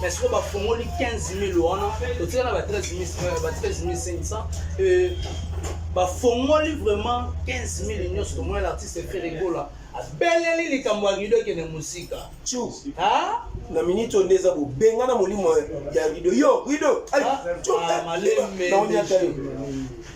mais sikoyo bafongoli 15000 wana totika na ba 13500 euh, bafongoli vraiment 15000 nyonso tomona na artiste feregola abeleli likambo ya rido ekende mosika na miniti oyo nde eza bobenga na molimo ya rido yo rido ah, ah,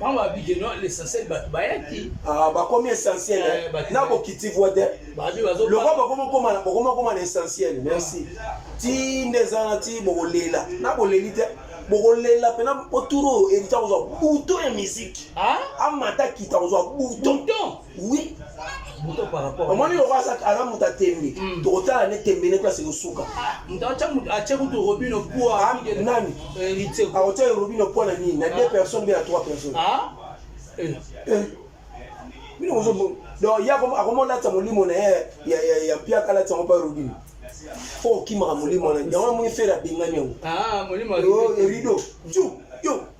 bango babiki no l'essentiel bato bayaki ah, bakomi essentiel eh, eh, na bokiti voi te lokwa bokoma koma na essentiel merci ti nde eza na ti bokolela na boleli te bokolela mpena mpo turo erita kozwa buto ya miziki amata kita kozwa buto oui omoni lokola aza aza moto atembe hmm. tokotala ne tembe ne place ekosuka atie kutu robino poa nani akotia robino poa na nini na deux ah. personnes mpe na trois personnes ah. eh. Eh. bino mozo donc ye akoma olatisa molimo na ye ya mpiaka alatisa ngo mpa robino fo okimaka molimo na yango amoni fere abengani yango rido ju yo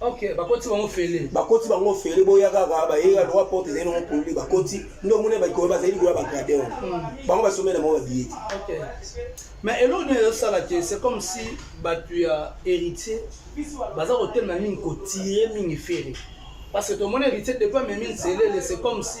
Okay, bakoti bango fele bakoti bango fele boya kaka baye ya droit porte ezali nango polule bakoti nde omoni baikoyo bazali likoya bagrade wana hmm. bango basomela bango babiye te mais eloko nini ezosala te c'est comme si bato ya héritier baza kotelema mingi kotire mingi fere parce que tomoni héritier depuis amemi nzelele c'est comme si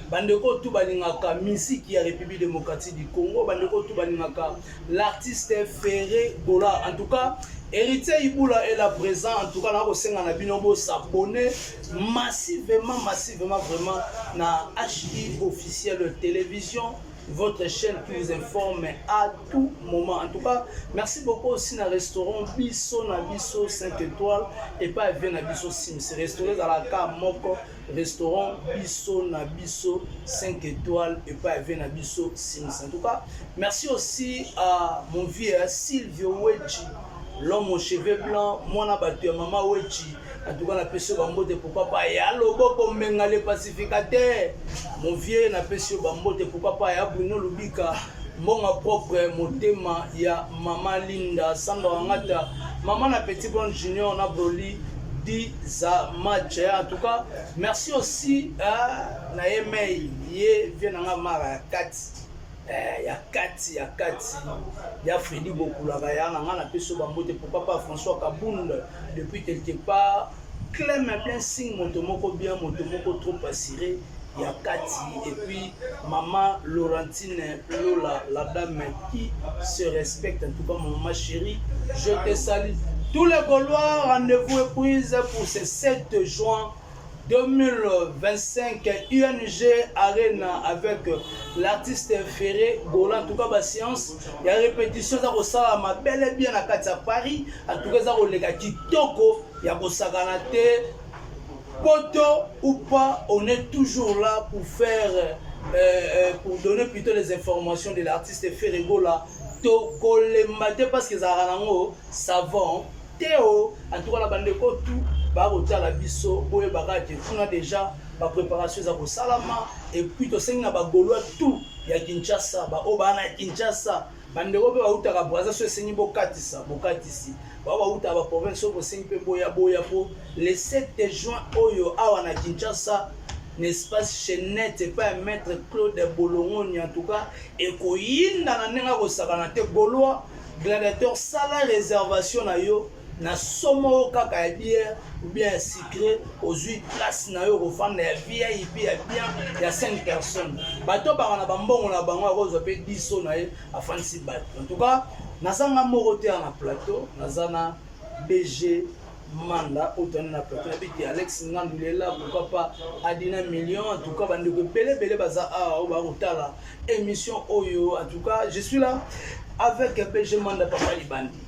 bandeko tu balingaka misiki ya république démocratique du congo bandeko tu balingaka l'artiste ferré gola en tout cas héritier ibula est là présent en tout cas nakosenga na bino bosabone massivement massivement vraiment na hi officiel télévision votre chaîne qui vous informe à tout moment. En tout cas, merci beaucoup aussi na restaurant Bisso na Bisso 5 étoiles et pas bien na Bisso Sims. Restaurant à la carte moko restaurant biso na biso 5 étoiles epai ave na biso simis en tout cas merci aussi à mon vieux silvio wechi l'homme aux cheveux blancs mwana bato ya mama wechi en tout cas napesi yo bambote pourquoi pas ya loboko mbenga le pacificateur mon vieux napesi yo bambote pourquoi pas ya bruno lubika mbonga propre motema ya mama linda samba wangata mama na petit bon junior na broli diza match eh, en tout cas merci aussi eh, na ye mei ye vie na nga mara ya kati eh, ya kati ya kati ya fredi bokulaka ya na nga na peso bambote pourquoi pas françois kabund depuis quelque part Clem un blessing moto moko bien moto moko trop assuré ya kati et puis maman Laurentine Lola la dame qui se respecte en tout cas maman chérie je te salue tous les Gaulois rendez-vous est prise pour ce 7 juin 2025 UNG Arena avec l'artiste Ferré Gola en tout cas ba séance ya répétition eza kosalama bel et bien na kati ya Paris en tout cas eza koleka kitoko ya kosakana te poto ou pas on est toujours là pour faire euh, euh, pour donner plutôt les informations de l'artiste ferregola tokolemba te parce que ezalaka nango savant te o en tout cas na bandeko tout bakotala biso boyebaka te kuna déjà bapréparation eza kosalama epuis tosengi na bagolois tout ya kinshasa baoyo baa na kinshasa bandeko mpe bautaka braza so esengi bokatisa bokatisi bao bautaka baprovince so bosengi mpe boya boya mpo le 7 juin oyo awa na kinshasa na espace chenete epai ya maître claude bolongoni en tout cas ekoyinda na ndenge akosakana te golois gladiateur sala réservation na yo na somo oyo kaka ya bière oubien ya sucre ozwi place na yo okofanda ya vip ya bien ya 5 personnes bato baka na bambongo na bango akozwa mpe diso na ye afandisi bato en tout cas naza nga moko te na plateau naza na bg manda oyo tani na plateau nabiki alex ngandulela pourquoi pas adina million en tout cas bandeko ebele ebele baza awa oyo bakotala émission oyo en tout cas je suis là avec bg manda papa libandi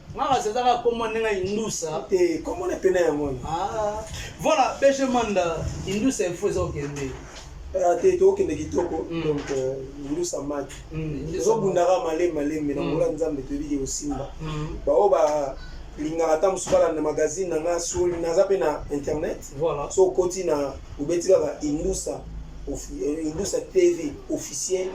Makas eza kaka kombo ndenge ya indusa te kombo na pena yango wana ah. voilà bg manda indusa info eza kokende ah, te tokokende kitoko mm. donc euh, indusa maki mm, ezobundaka malemi malemi na ngola mm. nzambe toyebiki kosimba baoyo ba lingaka ata mosusu balanda magazine na nga soli naza mpe na internet so okoti na obeti kaka indusa eh, indusa tv officiel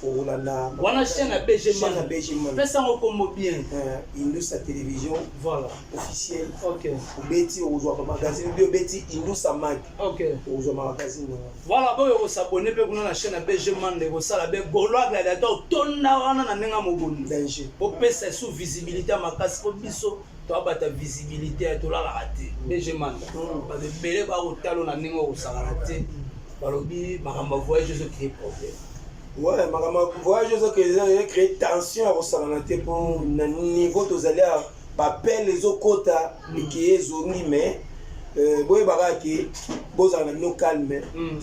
fongola na wana chaîne ya BG chaîne ya Man BG Man. pesa yango kombo bien Euh, Indusa Television voilà officiel. ok Obeti okozwa ba magazine bi obeti Indusa Mag ok okozwa ma magazine na wana. voilà boyo kosabone mpe kuna na chaîne ya BG Man ekosala be golois gladiator tonda wana na ndenge ya mobondo Danger. kopesa esu visibilité ya makasi mpo biso toabata visibilité ya tolalaka te dg manda bato ebele bakotalo na ndenge okosakana te balobi makambo ya voyage ezo cree problème ouais makambo ya voyage ezo cree tension ya kosakana te mpo na niveau tozali ya bapele ezokota mm. eke ezongi mais euh, boyebaka ke bozala na bino calme mm.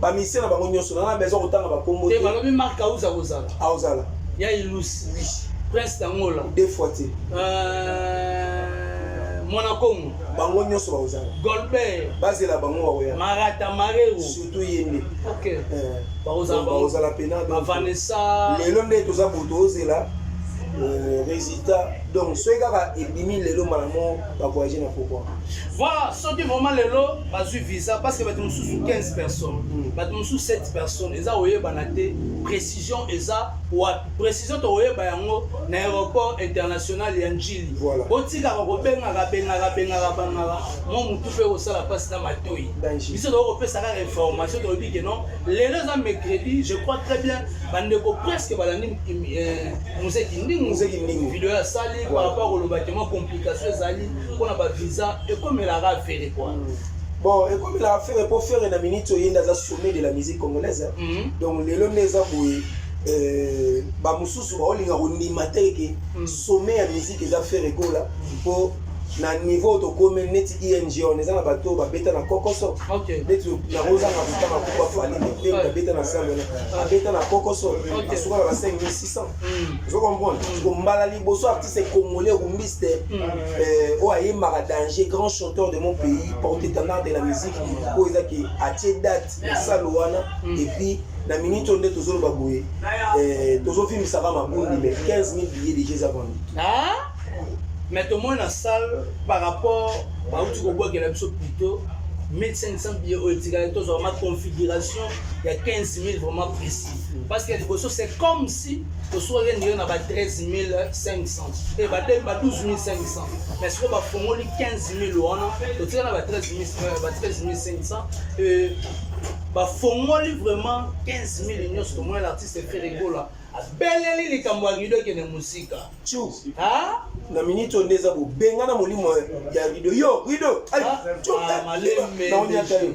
ba musicien na bango nyoso na na besoin kotanga ba kombo te ba lobi marc auza kozala aozala ya ilusi oui prince tangola deux fois te euh, mwana kongo bango nyoso bakozala golbert bazela bango bakoya marata marero surtout ye nde ok eh. bakozala pena vanessa lelo nde toza boto ozela Euh, résultat donc soki kaka ebimi lelo malamu bakoyage na pokwa voilà soki vraiment lelo bazwi visa parce que bato mosusu 15 personnes bato mosusu 7 personnes eza koyebana te précision eza wapi précision tokoyeba yango na aéroport international ya njili botikaka kobengaka bengaka bengaka bangaka mwa motu mpe kosala mpasi na matoi biso tokoki kopesa kaka information tolobi ke non lelo eza mercredi je crois très bien bandeko presque balandi eh, mozeki ndingu video asali par rapport koloba ke mwa complication ezali mpona ba visa ekomelaka afere kua mm. bon ekomelaka fere mpo fere na minute oye nde aza sommet de la musique congolaise mm. donc lelo nde eza boye euh, bamosusu baolinga kondima te eke mm. sommet ya musique eza fere gola mpo na niveau tokomi neti ing on eza na bato babeta na kokoso neti yango ozanga kotanga kupa fali te babeta na sale wana abeta na kokoso asukaka na 5600 ozo comprendre mbala liboso artiste congolais okumbisi euh, oyo ayembaka danger grand chanteur de mon pays porte étendard de la musique oyo eza ke atie date na sale wana mm. et puis na minute oyo nde tozoloba boye euh, tozofimisaka mabundi mais 15 000 billet déjà eza vendu ah? mais tomoni na salle par rapport bauti kobwakela biso plutôt 1500 billet oyo etikali tozwa vraiment configuration ya 15 000 vraiment précis parce que liboso c'est comme si toswaki ndenge na ba 13 500 e bademi ba 12500 mais sikoyo bafongoli 15000 wana totika na ba 13500 euh, bafongoli vraiment 15000 nyonso tomona na artiste feregola abeleli likambo ya rido ekende mosika na miniti oyo nde eza bobenga na molimo ya rido yo rido ah, ah, eh, naonyata yo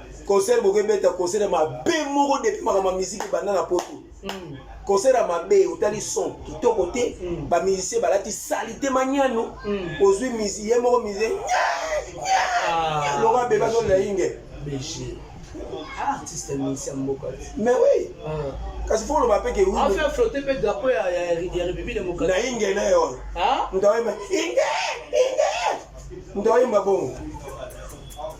concert boke beta concert mabe moko depuis makambo ya miziki ebanda na poto mm. concert ya mabe otali son kitoko te mm. bamusicien balati salite maniano mm. ozwi misi ye moko misi ah. loka beba zolela inge ah, artiste musicien mboka mais oui ah. kasi fo oloba mpe ke na inge na ye wana moto aoyemba inge inge moto aoyemba bongo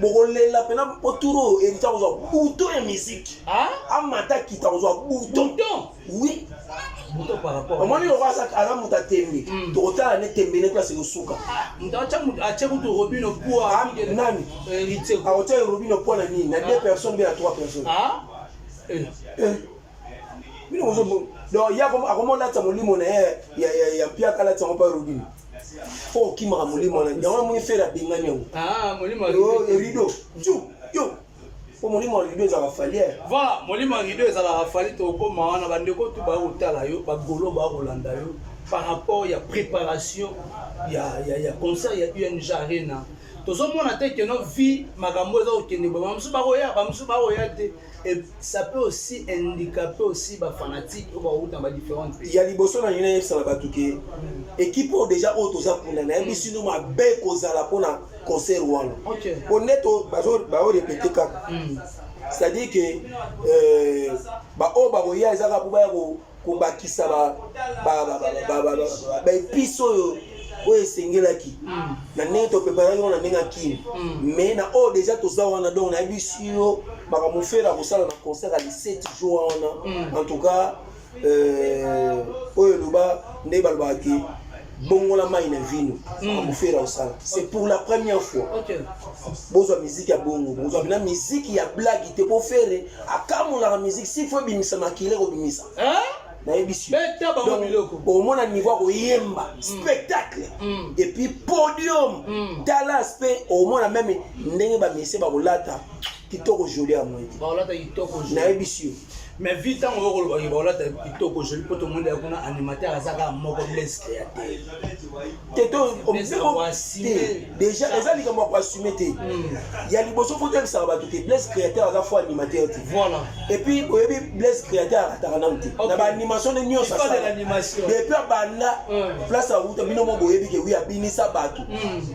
bokolela mpena mpo tour oyo erita kozwa buto ya miziki amata kita kozwa buto wi omoni lokola aza moto atembe hmm. tokotala ne tembe ne place ekosuka nani akotia robino mpo na nini na deux personnes mpe na trois personnes eh. Eh. bino ozobo donc ye akoma olatisa molimo na ye ya mpiaka alatisa yango mpa robino mpo okimaka molimo wana yango amoni fere abengani yango ah, rido ju yo mpo molimo ya rido ezalaka faliere voilà molimo ya rido ezalaka fali tokokoma wana bandeko tu baya kotala yo bagolo baya kolanda yo par rapport ya préparation ya, ya, ya concert ya ung arena tozomona te keno vie makambo eza kokende boye bamosusu bakoya bamosusu bakoya te Et ça peut aussi handicaper aussi ba fanatiques ou ba route dans ba différentes pays. Il y a liboso na yina yebisa na batu ke équipe oyo déjà oyo toza kuna na yebisi no mabe kozala pona concert wana. OK. Po neto bazo ba répéter kaka. C'est-à-dire que euh ba oyo ba koya ezaka po ba ya ko kobakisa baepice oyo oyo esengelaki mm. na ndenge topreparaki yango na ndenge ya kini mais mm. na oyo deja toza wana donc nayebisi yo makambo fere akosala na concert ya 17 jour wana mm. en tout cas euh, oyo eloba nde balobaka ke bongola mai na vino makambo fere osala c'est pour la première fois bozwa miziki ya bongo bozwa na miziki ya blagi te po fere akamolaka miziki si fo ebimisa makila ekobimisa nayebisi omona niveau ya koyemba mm. spectacle mm. epuis podium mm. talas mpe omona meme ndenge bamisie bakolata kitoko joli ya mwete baolata kitoko joli nayebisi yo mais vi ntango yo koloba yo baolata kitoko joli mpo tomoni ya kuna animateur aza kaka moko bleste ya te te to déjà eza likambo ya koassume te hmm. ya liboso fo toyebisaka bato te blaise créateur aza fo animateur te voilà et puis oyebi blaise créateur akataka nanu te na baanimation nde nyonso depuis abanda hmm. place awuta bino mo boyebi ke wi abinisa bato hmm.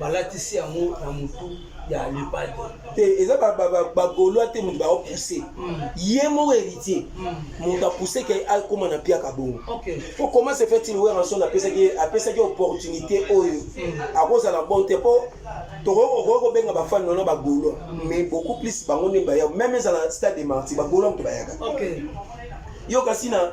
balatisi yango na motu ya lepade te eza bagolois te moto baopousse hmm. ye moko héritier hmm. moto apousse ke akóma na piaka bongo po comment se fait il weranson apesaki apesaki opportunité oyo hmm. akozala bon te po tokoki kobenga bafani wana bagolois mais beaucoup plus bango nde baya meme ezala stade de marti bagolois moto bayaka yo kasi na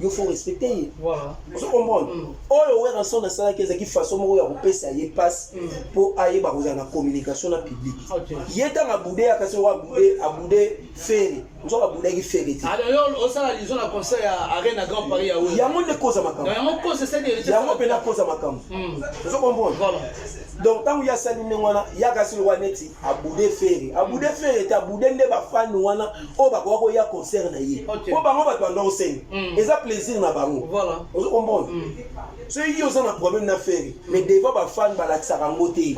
yo faut respecter ye voilà ozo comprendre mm. oyo werrason asalaki ezalaki façon moko ya kopesa ye passe mm. mpo ayeba kozala na communication na public ye ntango abude ya kasi owa abude abude fere nzoka abudaki fere te osala lizo na concert ya arena grand paris ya oyo yango nde koza makambo yango mpe nakoza makambo mm. ozo comprendre donc ntango ye asali ndenge wana ya kasi lowa neti abude fere abude mm. fere te abude nde bafani wana oyo bakoka koya concert na ye mpo bango bato banda osenga mm. eza plaisir na bango ozo comprendre mm. soki yo oza na problème na fere mais devant bafani balakisaka yango te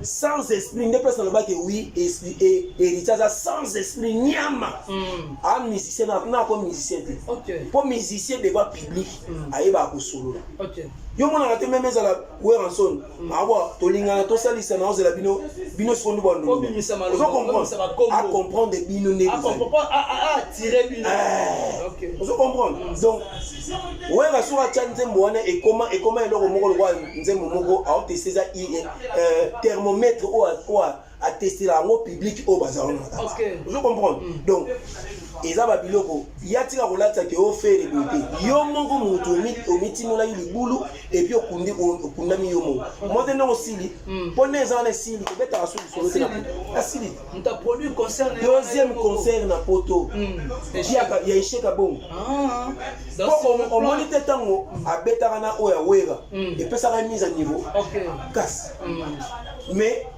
sans esprit nde place nalobaki wi héritier aza sans esprit nyama a ah, musicien na ako musicien te mpo musicien devant public ayebaka kosolola yo monaka te meme ezala Werrason mm. awa ah, tolingana tosalisa na ozela bino bino sikoyo ndu banduozo comprendre bino nde ah, ah, eh. ozo comprendre mm. donc wera soki atya nzembo wana ekoma ekoma eloko moko lokola nzembo moko aoteste eza eh, thermomètre oyo atestela yango public oyo baza wana na kaka ozo comprendre mm. donc eza babiloko ya tika kolatisa ke ofere boye te yo moko motu omitimolaki libulu epuis okundi okundami yo moko mote nde osili mpo mm. nde eza wana esili kobetaka so lisolo te na poto asili deuxième concert na poto mm. ya esheka bongo ah. mpo omoni te ntango abetaka na oyo ya wera epesaka mise a niveau kasi mais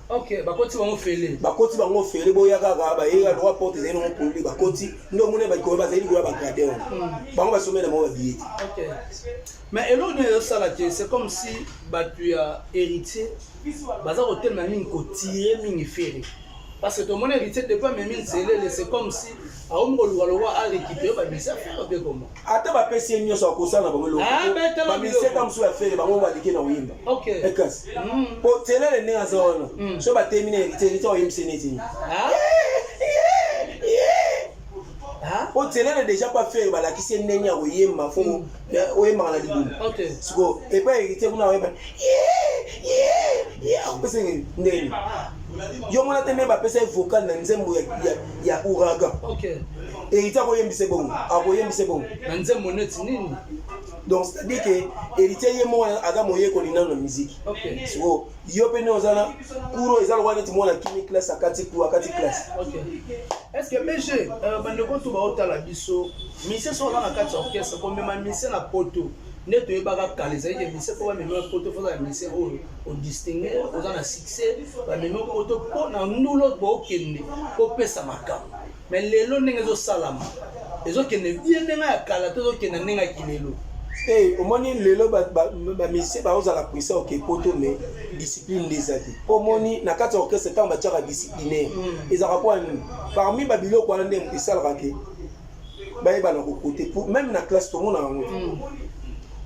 Okay, bakoti bango fele bakoti bango fele boya kaka baye ya droit porte ezali nango polele bakoti nde omoni baikoya bazali koya bagrade wana hmm. bango basomela bango babiye te mais eloko nini ezosala te c'est comme si bato ya héritier baza kotelema mingi kotire mingi fere parce que tomoni héritier depuis amemi nzelele c'est comme si aomi koluka lokwa arekipere babisa fere mpe koma ata bapesi ye nyonso akosala na bango elokobamiseta ah, mosusu ya fere bango balike na koyemba ekasi po mm. telele ndenge aza wana mm. so batemi na heritier heritier oyembisi neti ah. ah. po telele deja pa fere balakisi ye ndenge ya koyemba fo mm. eh, oyembaka na libulu siko epa heritier kuna oyemba akopesa ndenge yo mona te nde bapesa ye vocal na nzembo ya ouragan Héritier akoyembisa ebongo, akoyembisa ebongo. Na nzembo neti nini? Donc c'est-à-dire que Héritier ye moko aza moyekoli nano na musique. Okay. Siko yo pe ndio ozana kuro eza lokola neti mwana kimi classe akati kuro akati classe. Okay. Est-ce que BG euh, bandeko to baotala biso mise so na kati orchestre komema mise na poto nde toyebaka kala ezalaki emise mpo bamemi poto mpo ozala emise oyo odistingue oza na succès bamemi poto mpo na ndulo bookende kopesa makambo mais lelo ndenge ezosalama ezokende ye ndenge ya kala to ezokende ndenge ya kilelo te eh, omoni lelo bamisie baozala puissant oke poto mais discipline nde eza te mpo omoni na kati ya orchestre ntango batiaka disciplinaire hmm. ezalaka mpo nini parmi babiloko wana nde esalaka te bayebana kokote meme na classe tomona yango hmm.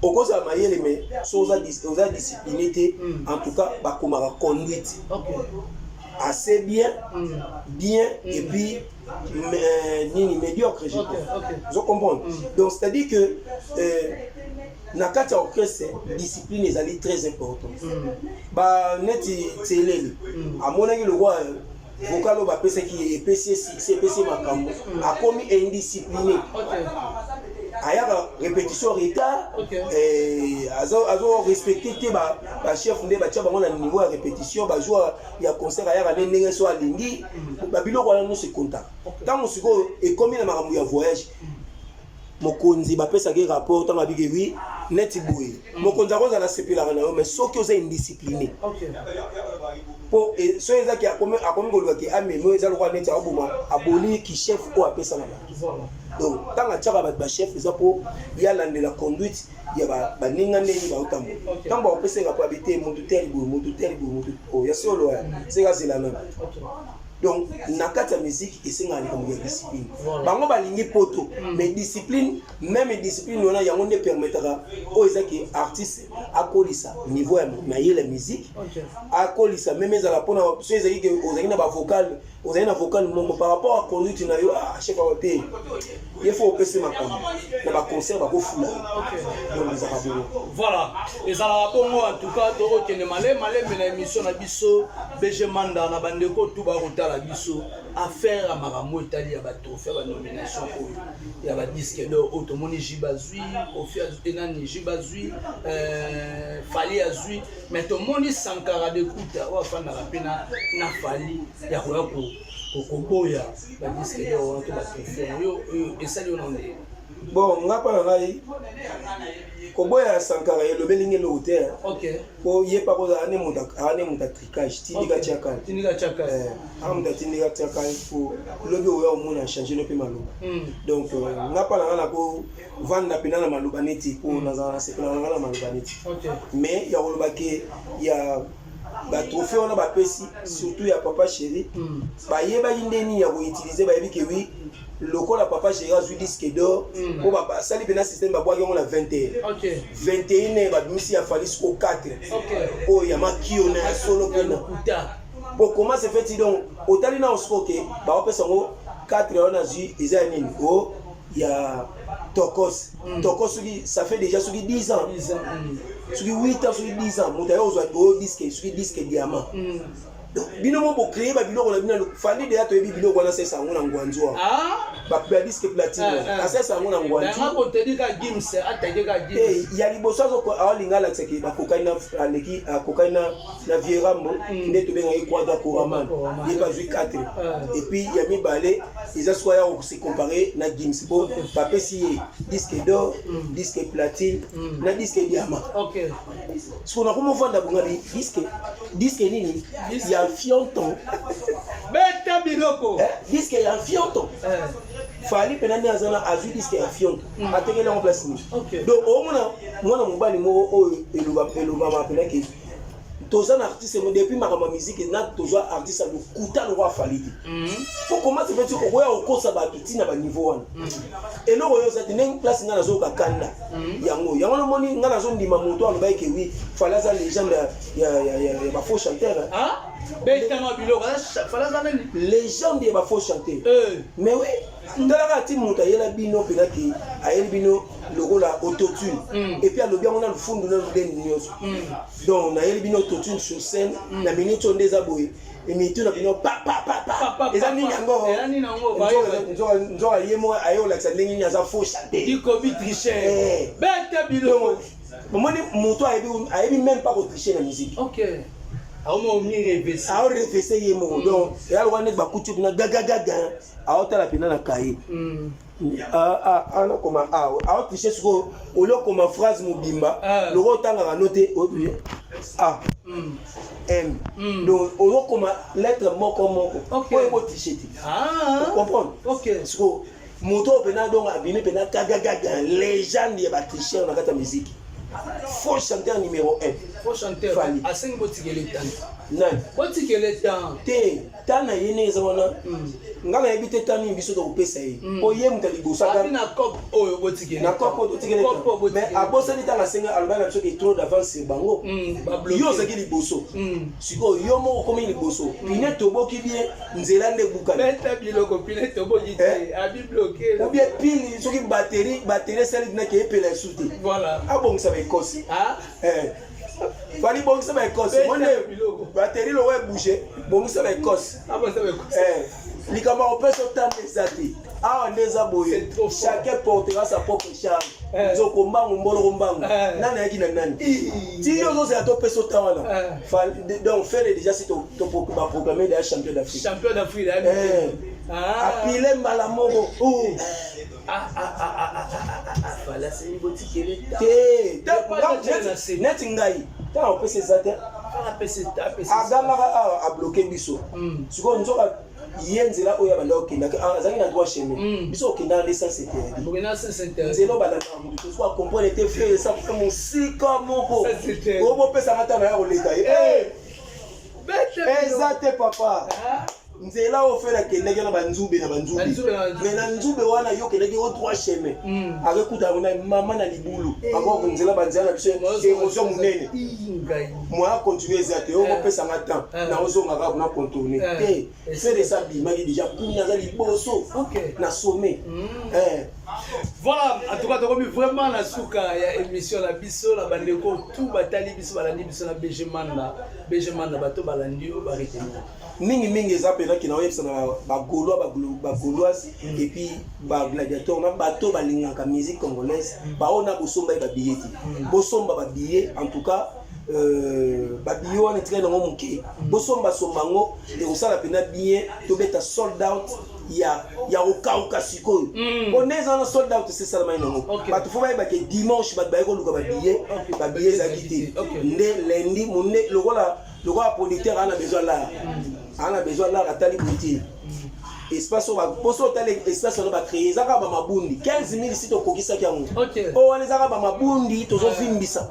okozala mayele mais so oza discipline te hmm. en tout cas bakomaka conduite assez bien mm. bien mm. et puis euh, nini médiocre je okay, okay. je comprends mm. donc c'est à dire que euh, na kati ya orchestre discipline ezali très important mm. ba neti tseleli mm. amonaki lokola vocal oyo bapesaki ye epesi ye succès epesi ye makambo mm. akomi indiscipliné okay. ayaka répétition retard okay. eh, azo, azo respecte te ba ba chef nde batia bango na niveau ya repetition bazwa ya concert ayaka nde ndenge so alingi mm. babiloko wana nyonso ekonta ntango sikoyo ekomi na makambo ya voyage mokonzi bapesaki rapport ntango abiki wi neti boye mm. mokonzi akozala asepelaka na yo mais soki oza indiscipline mpo e, soki ezaki akomi koloba ke amemo eza lokola neti akoboma aboli kichef oyo apesaka na donc ntango atiaka bato bachef eza mpo yalandela conduite ya baninga ndenge baotamo ntango bakopesa nga poabi te motu tele boye motu tele boye motu oyo ya solo ya seka zela nano donc na kati ya miziki esengaka likambo ya discipline bango balingi poto mm. mais discipline meme discipline wana yango nde permetaka oyo eza ke artiste akolisa niveau ya mayele ya miziki akolisa meme ezala mpona so ezali ke ozalaki na bavocale ozali na vocal moko par rapport à conduite na yo ah, chef awa te ye fo opesi makambo na baconcert bakofula donc ezaka bongo voilà ezalaka bongo en tout cas tokokende male malembe na émission na biso bg manda na bandeko tu bakotala biso affaire ya makambo etali ya batrophée ya banomination oyo ya badisque dor oyo tomoni jib azwi kofi enani jib azwi euh, fali azwi mais tomoni sankara de kuta oyo afandaka mpe na fali ya koya koboya badiske yo wana to batrofone oyo esali yo na ndenge bon nga mpo na ngai koboya sankara elobeli nge eloko te mpo ye mpa kozala ne moto atricage tindika tiakale aa moto atindika tiakale mpo lobi oya omona change no mpe maloba hmm. donc euh, nga mpa na ngai nako vanda mpena na maloba neti mpo mm. nazala na sepela nanga na maloba neti mais ya koloba ke ya batrophée wana bapesi mm. surtout ya papa chéri mm. bayebaki nde nini ya koutilize bayebi ke wi lokola papa chéri azwi disque d'or mpo basali mpena système babwaki yango na 21 21 babimisi ya falis ko 4 oyo ya makiona ya solo mpena po comment se fait donc otali na osikoke baopesa yango 4 wana azwi eza ya nini o oh, ya tokos mm. tokos soki ça fait déjà soki 10 ans mm. soki 8 ans soki 10 ans moto aye ozwa oyo diske soki diske diamant mm. donc bino mo bocreye babiloko na bino fandi deya toyebi biloko wana asesa yango na ngwanzu wana ah? badiske platine eh, eh. asesa yango na ngwanzuya liboso alinga alakisaki bakokani na aleki akokani na na vieux rambo nde tobengaki kwada koraman ye bazwi 4 epuis ya mibale eza swa ya kose compare na gims po bapesi ye disque d'or disque platine na disque diama siko nakoma ofanda bongabi disque disque nini ya fionton beta biloko disque ya fionton fali mpena nde aza na azwi diske ya fionto atekeli yango place nini donc omona mwana mobali moko oyo elobama mpena ke toza na artiste mo depuis makambo ya miziki na tozwa artiste ya lokuta lokola fali te po mhm. komati peti okoya kokosa bato ntina baniveau wana mhm. eloko oyo oza te ndenge place ngai nazoyoka kanda mhm. yango yango namoni ngai nazondima moto alobaki ke wi fali aza legende ya bafaux chanteur ah? betama biloko fali aza nani legende ya bafaux chanteur eh. mais oui ndalaka ati moto ayela bino mpena ke ayeli bino lokola autotune mm. epuis alobi yango na lofundu na loleni nyonso mm. donc nayeli bino autotune sur scène mm. na minute oyo nde eza boye mitu na bino papapapa eza nini yango nzoka ye moko aye kolakisa ndenge nini aza faux chanteikobitrichebetebilongo omoni moto ayebi meme pas kotriche na musique aorefese ye moko donc eya lokola neti bakuti kuna gagagaga aotala mpena na kaye mm. ah, ah, ah, anakoma awa aotriche sikoyo oli okoma phrase mobimba loko otangaka no te a m mm. donc ozokoma lettre moko moko oyo ekotriche te comprendre sikoyo moto oyo mpena donc abimi mpena gagagaga legende ya batricheur na kati ya miziki faux chanteur numéro 1 faux chanteur asengi botikele tan nani botikele tan te ta na ye ndenge eza wana ngai nayebi te ta nini biso tokopesa ye mpo mm. ye moto ya liboso na cop oyo botikena cop oyo totikena mais abosani ntango asenga alobaki na biso ke trop d'avance sur bango mm, yo ozalaki liboso mm. sikoyo yo moko okomi liboso pine toboki bien nzela nde ebukanaobien eh? pine soki bateri bateri esali dinake epela esu te abongisa baekosi ah? eh. Fali bongisa ba Ecosse. Monde batterie lowe bouger. Bongisa ba Ecosse. Ah ba ça ba Ecosse. Eh. Likama opesa otanda eza te. Awa nde eza boye. Chacun portera sa propre charge. Eh. Nzoko mbangu mboloko mbangu. Eh. Nani ayaki na nani? Ti yo zozo ya to pesa otanda wana. Eh. Fali donc faire déjà si to to ba proclamer le champion d'Afrique. Champion d'Afrique. Eh. Ah. Apile mbala moko. Oh. neti ngai ntango opesa eza te agamaka awa abloke biso hmm. sikoyo nzoka ye nzela oyo abanda okendaki ah, azalaki na droit chemin hmm. biso okendaka nde sens interdit nzela obandaka moto tosuku acomprendre te fere esakuta mosika moko oyo bopesaka ntango ya koleka ye eh! eza te papa ah. nzela oyo fela akendaki na banzube na banzube me na nzube wana yo okendaki o trois chemin hmm. akekuta yango na mama na libulu eh. akoko nzela banzela na biso ekozwa monene moya continue eza te yoko eh. pesa nga temps eh. na ozonga kaka na contourne te fela esa bimaki deja kumi aza liboso na sommet hmm. voilà en tout cas tokomi vraiment na suka ya émission na biso na bandeko tout batali biso balandi biso na bg manda bg manda bato balandi yo baretenir mingi mingi eza mpenza kina oyebisa na bagaulois bagauloise mm. epuis bagladiateur na bato balingaka musique congolaise mm. baoyo na bosomba ye babiye te mm. bosomba babiye en tout cas euh, babiye wana etikali nango moke bosombasomba yango ekosala mpenza bien tobeta sold out ya ya kokauka sikoyo mpo nde eza wana sold out esesalamai nango bato fo bayeba ke dimanche bato baye koluka babiye babiye ezalaki te nde lendi monde lokola lokola producteur ana besoin lar ana besoin lar atali boye espace oyo baposo otala espace wana bacreye eza kaka bamabundi 15 mille si tokokisaki yango oyo wana eza kaka bamabundi tozovimbisa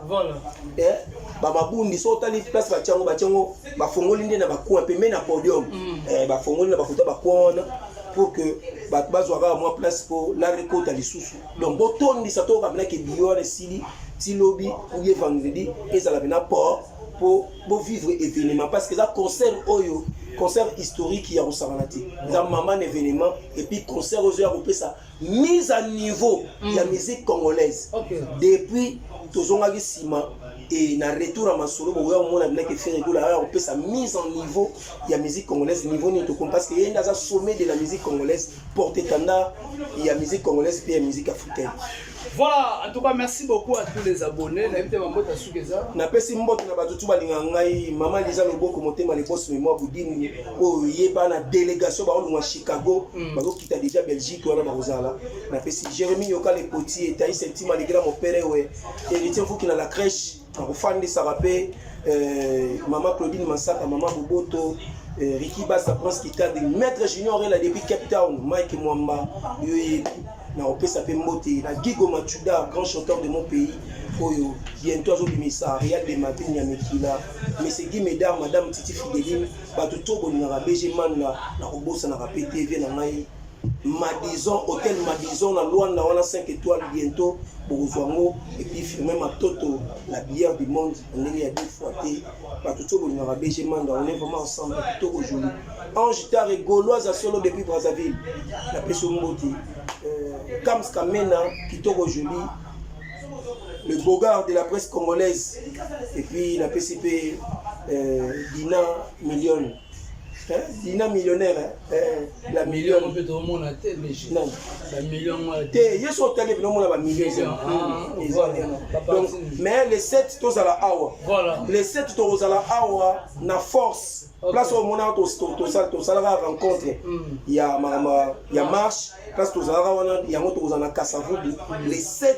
eh, bamabundi so otali place batya yango batya yango bafongoli nde na bacoin pembe na podium mm. eh, bafongoli na bakuta bacoin wana pour que bato bazwa kaka mwa place mpo lare ekota lisusu donc botondisa toyoka mpenaki biyo wana esili ti lobi oubien vendredi ezala mpena port po bo vivre événement parce que eza concert oyo concert historique ya kosangana te eza maman événement et puis concert ozo ya kopesa mise à niveau mm. ya musique congolaise okay. depuis tozongaki nsima et na retour ya masolo bokoya komona bilaki fere ekola aya kopesa mise en niveau ya musique congolaise niveau nini tokomi parce que ye nde aza sommet de la musique congolaise porte étendard ya musique congolaise mpe ya musique africaine Voilà, en tout cas, merci beaucoup à tous les abonnés. Na yebite mambo ta suka eza. Na pesi mbote na bato tuba linga ngai, mama Liza Loboko motema le boss memo budini oyo yeba na délégation ba olunga Chicago, mm. ba kita déjà Belgique wana ba kozala. Na pesi Jérémy Yoka le potier, Taïs Ntima le grand mon père we, héritier Fuki na la crèche. nakofandisaka mpe eh, mama claudine masaka mama boboto eh, riki basa prince kitabi maître junior ela depuis cape town mike mwamba yo yebi nakopesa mpe mbote na gigo machuda grand chanteur de mon pays oyo bientôt azobimisa real de madrid ya mikila mesegi medar madame titi fideline bato to bolingaka bg manda nakobosanaka mpe tv na ngai Madison, hôtel Madison na Luanda wana 5 étoiles bientôt bokozwa yango et puis firme matoto la bière du monde ndenge ya deux fois te bato tso bolingaka BG Manda on est vraiment ensemble kitoko joli Ange Tare Gauloise solo depuis Brazzaville na peso mbote euh, Kams Kamena kitoko joli le bogard de la presse congolaise et puis na PCP euh, Dina Million dina millionnaire la million te yesu otali bino omona bamillion eza donc mais le 7 tozala awa le 7 tokozala awa na force place oyo omonaka tosalaka rencontre hmm. ya makambo ya marche place tozalaka wana yango tokozala na kasavubu le 7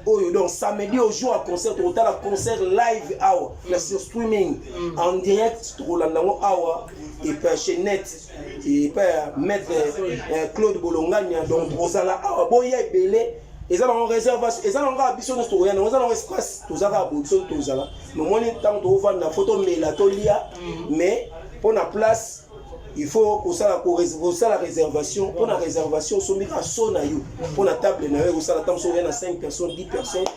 oyo donc samedi au jour à concert tokotala concert live awa na sur streaming mm. en direct tokolanda yango awa epa chez net epa ya maître euh, claude bolongania donc bozala awa boya ebele eza nango réservation eza nango kaka biso nyonso tokoya nango eza nango espace toza kaka boye biso tozala nomoni ntango tokofanda fo tomela tolia mais mpo na place il faut kosala kosala réservation mpo na réservation osombi kaka so na yo mpo na table na yo ekosala ntango soki oya na 5 personnes 10 personnes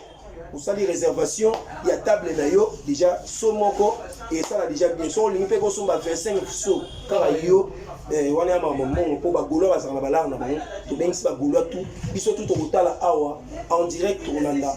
osali réservation ya table na yo déjà so moko esala déjà bien so olingi mpe kosomba 25 so kaka yo eh, wana ya makambo mbongo mpo bagolois bazala na balare na bango tobengisi bagolois tout biso tout tokotala awa en direct tokolanda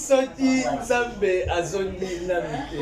Soki nzambe azongi nanu te.